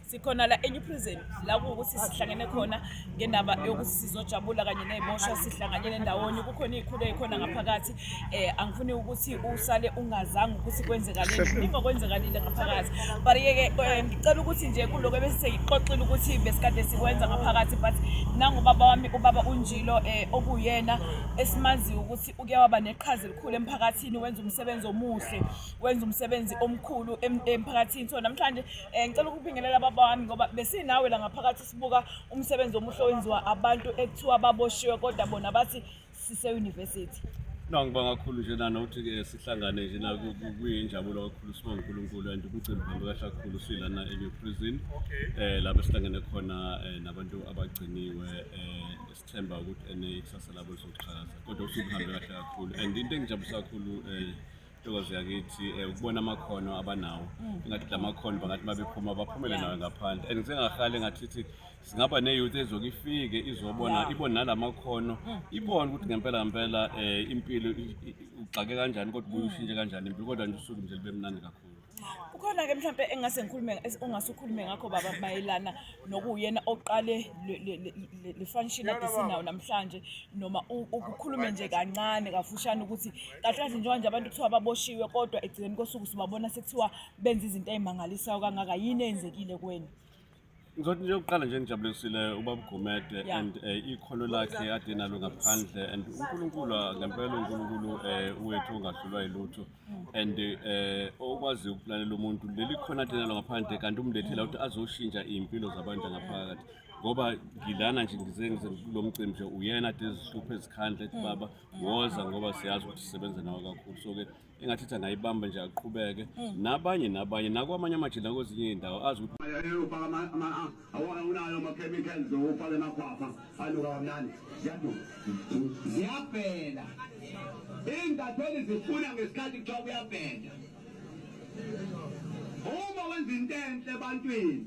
sikhona la eNew Prison la kuwukuthi sihlangene khona ngendaba yokuthi sizojabula kanye neziboshwa sihlanganyele ndawonye kukhona izikhulu ezikhona ngaphakathi eh angifuni ukuthi usale ungazange ukuthi kwenzekalile kuningi okwenzekalile ngaphakathi but yeke eh, ngicela ukuthi nje kuloko ebesiseyixoxile ukuthi besikade sikwenza ngaphakathi but nangubaba wami ubaba unjilo eh okuyena esimaziyo ukuthi uke waba neqhaza elikhulu emphakathini wenza umsebenzi omuhle wenza umsebenzi omkhulu em- emphakathini so namhlanje um ngicela ukubingelela baba wami ngoba besinawe la ngaphakathi sibuka umsebenzi omuhle owenziwa abantu ekuthiwa baboshiwe kodwa bona bathi siseyunivesithi no ngibonga kakhulu nje nana ukuthi ke sihlangane nje na kuyinjabulo kakhulu sibonga uNkulunkulu and umcimbi uhambe kahle kakhulu silana eNew Prison eh lapho sihlangene khona eh, nabantu abagciniwe eh sithemba ukuthi ene ikusasa labo lizoqhakaza kodwa usuhambe kahle kakhulu and into engijabulisa kakhulu eh Thokoza yakithi eh, ukubona amakhono abanawo mm. ingathi la makhono bangathi babephuma baphumele nawo ngaphandle and ngisengahale ngathithi singaba ne-youth ezoke ifike izobona ibone nala makhono mm. ibone ukuthi ngempela ngempela um impilo ugxake kanjani kodwa ubuye ushintshe kanjani impilo kodwa nje usuku nje libe mnandi kakhulu kukhona ke mhlawumbe engase ngikhulume ongase ukhulume ngakho baba mayelana nokuyena oqale le function ade sinawo namhlanje noma ukukhulume nje kancane kafushane ukuthi kahle kahle njengoba nje abantu kuthiwa baboshiwe kodwa egcikeni kosuku sibabona sekuthiwa benza izinto ey'mangalisayo kangaka yini eyenzekile kwenu Ngizothi nje ukuqala nje ngijabulisile ubaba Gumede Yeah. and eh, ikhono lakhe ade nalo ngaphandle and uNkulunkulu ah, ngempela uNkulunkulu eh, wethu ongahlulwa yilutho and eh, okwazi ukulalela umuntu leli khona ade nalo ngaphandle kanti umlethela ukuthi azoshintsha iy'mpilo zabantu ngaphakathi ngoba ngilana nje ngize ngize kulo mcimbi nje uyena ade ezihluphe ezikhandla ethi baba woza ngoba siyazi ukuthi sisebenza nawe kakhulu so-ke engathi ithi angayibamba nje aqhubeke hmm. nabanye nabanye nakwamanye amajele nakwezinye iy'ndawo azi ukuthi awunayo ama-chemicals ufake emakhwafa anuka kamnandi ziyabhela iy'ntatheli zifuna ngesikhathi kuthiwa kuyabhela uma wenza into enhle ebantwini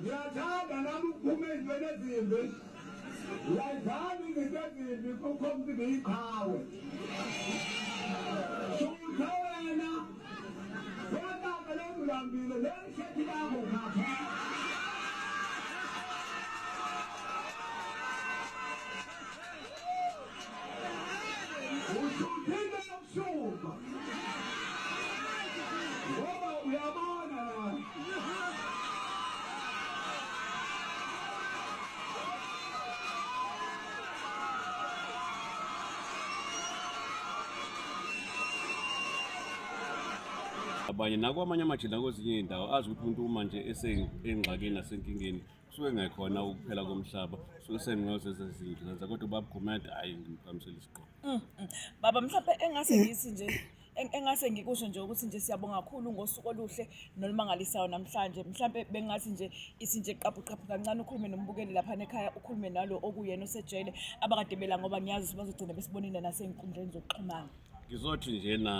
Ngiyathanda nami ukuphuma ezintweni ezimbi. Layiphani izinto ezimbi kukho mntu ngiyiqhawe. Shutha wena. Wena ngale ngilambile le shirt yakho ngapha. Usuphinde ubusuku. Ngoba uyabona lana. abanye nakwamanye amajele nakwezinye iy'ndawo azi ukuthi umuntu uma nje esengxakini nasenkingeni kusuke ngekhona ukuphela komhlaba suke sengiyoze zezinto zenza kodwa ubaba gumede hhayi ngimphakamisela isigqoko mm, mm. baba mhlawumbe engase ngisi nje engase ngikusho nje ukuthi nje siyabonga kakhulu ngosuku oluhle nolumangalisayo namhlanje mhlampe bengathi nje ithi nje qaphuqaphu kancane ukhulume nombukeli lapha nekhaya ukhulume nalo okuyena osejele abakade bela ngoba ngiyazi ukuthi bazogcina besibonile nasey'nkundleni zokuxhumana ngizothi njena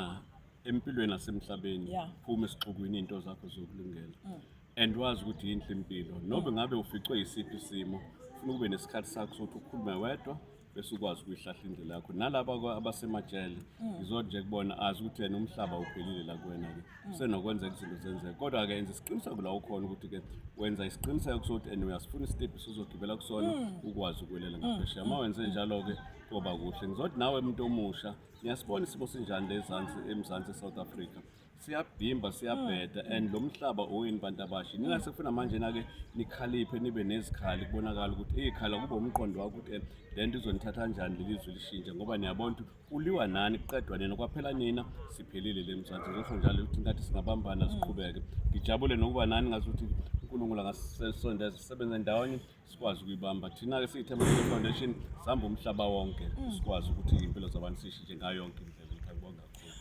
empilweni nasemhlabeni phume esixukwini iy'nto zakho zokulungela mm. and wazi ukuthi yinhle impilo noma ngabe uficwe yisiphi isimo ufuna ube nesikhathi sakho sokuthi ukhulume wedwa bese ukwazi ukuyihlahla indlela yakho nalaba abasemajele mm. ngizwa nje kubona azi ukuthi yena umhlaba uphelile la kuwena-ke mm. usenokwenzeka izinto zenzeka kodwa-ke enza isiqiniseko la ukhona ukuthi-ke wenza isiqiniseko sokuthi and uyasifuna isitebhisi uzogibela kusona mm. ukwazi ukwelela ngaphesheya uma wenze njalo-ke koba kuhle ngizothi nawe muntu omusha niyasibona isimo sinjani lezansi emzansi e-south africa siyabhimba siyabheda mm. and lo mhlaba owenu bantu abasha nina sekufuna manje nake nikhaliphe nibe nezikhali kubonakala ukuthi eyikhala kube umqondo wakho ukuthi eh, le nto izonithatha kanjani leli zwe lishintshe ngoba niyabona ukuthi kuliwa nani kuqedwa nina kwaphela nina siphelile le mzansi ngisho njalo ukuthi ngathi singabambana mm. siqhubeke ngijabule nokuba nani ngazi ukuthi unkulunkulu angasisondeza sisebenze ndawonye sikwazi ukuyibamba thina-ke siyi-Thembelele Foundation sihamba umhlaba wonke mm. sikwazi ukuthi iy'mpilo zabantu sishintshe ngayo yonke indlela ngiyabonga kakhulu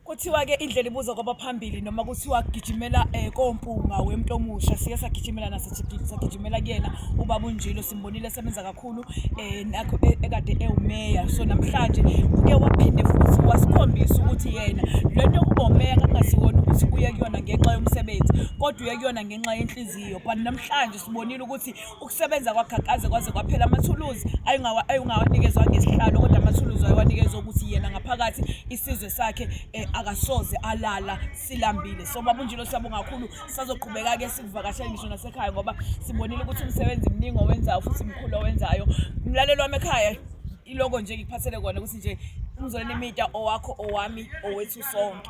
kuthiwa-ke indlela ibuza kwaba phambili noma kuthiwa gijimela um kompunga wemntu omusha siye sagijimela nasagijimela kuyena ubaba unjilo simbonile esebenza kakhulu um nakho e, ekade ewumeya so namhlanje uke waphinde futhi wasikhombisa ukuthi yena le nto yokuba umeya kakungasiwona ukuthi uye kuyona ngenxa yomsebenzi kodwa uye kuyona ngenxa yenhliziyo but namhlanje Sibonile ukuthi ukusebenza kwaGhagqaze kwaze kwaphela amathuluzi ayungawanikezwa ngesihlalo kodwa amathuluzi ayewanikezwa ukuthi yena ngaphakathi isizwe sakhe eh, akasoze alala silambile so baba unjilo siyabonga kakhulu sazoqhubeka-ke sikuvakashela ngisho nasekhaya ngoba sibonile ukuthi umsebenzi mningi owenzayo futhi mkhulu owenzayo mlalelo wami ekhaya iloko nje ngikuphathele kona ukuthi nje umzoleni imita owakho owami owethu sonke